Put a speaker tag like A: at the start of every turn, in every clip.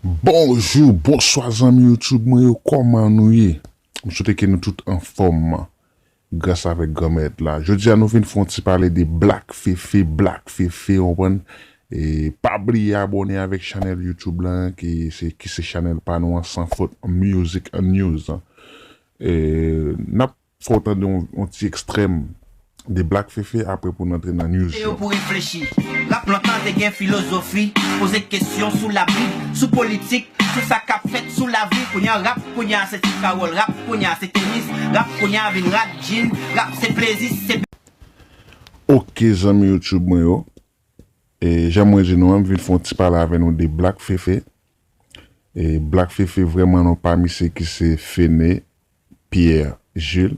A: Bonjou, bonswa zanmi youtube mwen yo kòman nou ye? M swete ke nou tout anfòm gras avèk Granmèt la. Jodi a nou vin fè yon ti pale de Black Fefe, Black Fefe ou konprann e pa bliye abòne avèk chanèl youtube la ki se ki se chanèl pa nou an San Fot Music News. E n ap Fò w tande yon ti ekstrèm de Black Fefe apre pou n antre nan news yo. Pou reflechi.
B: Rap Plant la te gen filozofi, poze kesyon sou labib, sou politik, sou sa k ap fèt sou lavi. Kounye a rap kounye a se ti kawòl, rap kounye a se tenis, rap kounye a vin rad djin, rap se plezi, si se.
A: Ok zanmi YouTube mwen yo, e jan mwen di nou an m vin fè yon ti pale avè nou de Black Fefe. E Black Fefe vrèman nan pami se ki se Fene Pierre Jules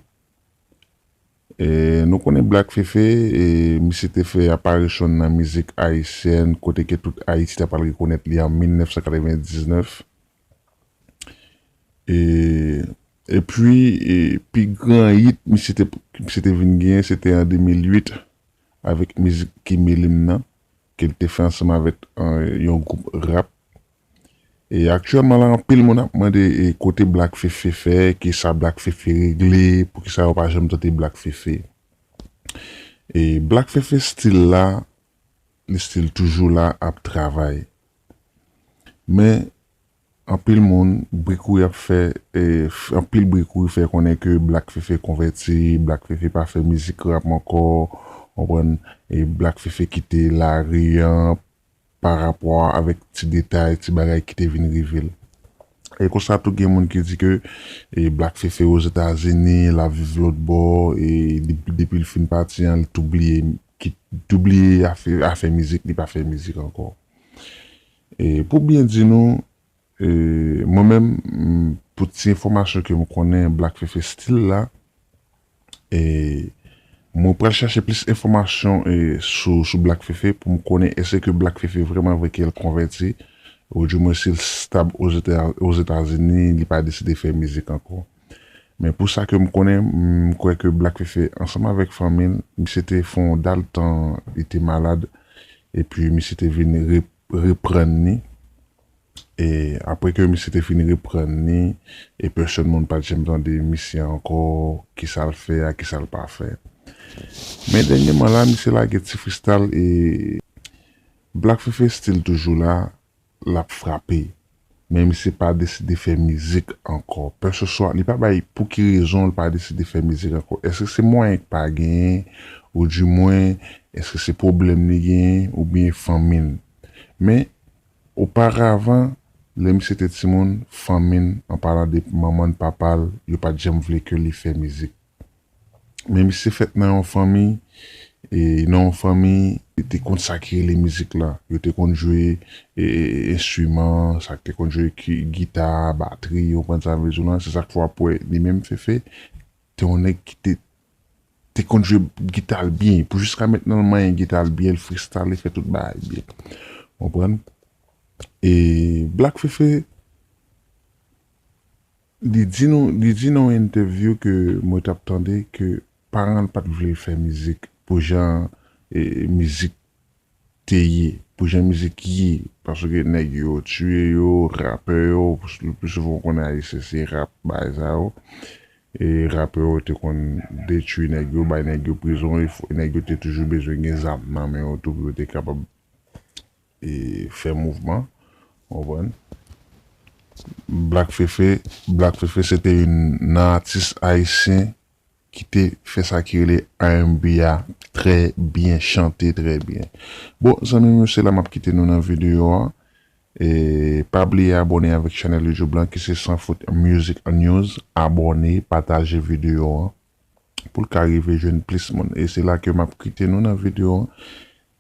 A: E nou konnen Black Fefe e misye te fè aparisyon n nan mizik ayisyèn kote ke tout Ayiti ta pral rekonèt li an 1999 e epi e pi gran yit misye te misye te vin genyen se te an 2008 avèk mizik Ki Mele m nan Ke li te fè ansanm avèk yon gwoup rap. E aktyèlman la anpil moun ap mande e kote Black Fefe fè, kisa Black Fefe regle, poukisa yo pa janm tande Black Fefe. E Black Fefe stil la, li stil toujou la ap travay. Men. Anpil moun, bri kouri ap fè, anpil bri kouri fè konnen ke Black Fefe konvèti, Black Fefe pa fè mizik rap ankò, konprann, e Black Fefe kite lari an pa rapò avèk ti detay, ti bagay ki te vin rive l. E konsa tou gen moun ki di ke Black Fefe Ozetazini, l ap viv lòtbò, e depi l fin pati an li tou bliye, tou bliye afè mizik, li pa fè mizik ankò. E pou byen di nou, e mwen menm pou ti enfòmasyon ke m konnen Black Fefe Stil la, e mwen pral chache plis enfòmasyon e sou sou Black Fefe pou m konnen èske ke Black Fefe vrèman vre ke l konvèti, ou di mwen si l stab Ozetazini, li pa deside fè mizik ankò. Men pou sa ke m konnen, m kwè ke Black Fefe ansanm avèk fanmi l, misye te fè yon dal tan li te malad epi misye te vin reprann li. E apre ke misye te fin reprann li e pèsòn moun pa t janm tande misye ankò, kisa l fè a, kisa l pa fè. Men dènyeman la misye lage Ti Fristal e Black Fefe stil toujou la lap frape men misye pa deside fè mizik ankò pè se swa li pa bay pouki rezon li pa deside fè mizik ankò eske se mwayen ki pa genyen ou di mwen eske se pwoblèm li genyen ou byen fanmil men oparavan lè misye te timoun fanmil an palan de manmanl papal yo pat janm vle ke li fè mizik. Men misye fèt nan yon fanmi, e nan yon fanmi yo te konn sa ki rele mizik la, yo te konn jwe enstriman, sa ki te konn jwe gita, batri, ou konprann sa m vle di w lan, se sa k fè w ap wè li menm Fefe te yon nèg ki te te konn jwe gita l byen, pou jiska mentnan l manyen gita l byen, l frestale, fè tout bagay byen, ou konprann, e Black Fefe. Li di nou, li di nan yon entèvyou ke mwen t ap tande ke paran l pa t vle l fè mizik pou jan mizik te ye, pou jan mizik ye, paske nèg yo tiye yo, rapè yo, le pli souvan ou konnen Ayisyen se rap bagay sa yo, e rapè yo te konn detui nèg yo, bay nèg yo prizon, e nèg yo te toujou bezwen gen zam nan men yo tou pou yo te kapab fè mouvman ou konprann Black Fefe Black Fefe se te youn nan atis ayisyen ki te fè sa ki rele RNB a trè byen chante trè byen bon zanmi m yo se la m ap kite nou nan videyo an pa bliye abòne avèk chanèl youtube lan ki se San Fout Music News abòne pataje videyo an. pou l ka rive jwenn plis moun e se la ke map kite nou nan video an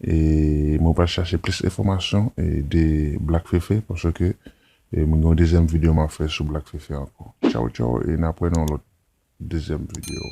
A: e mwen pral chache plis enfòmasyon de Black Fefe paske mwen gen yon dezyèm video map fè sou Black Fefe ankò tchaw tchaw e nap wè nan yon lòt dezyèm video.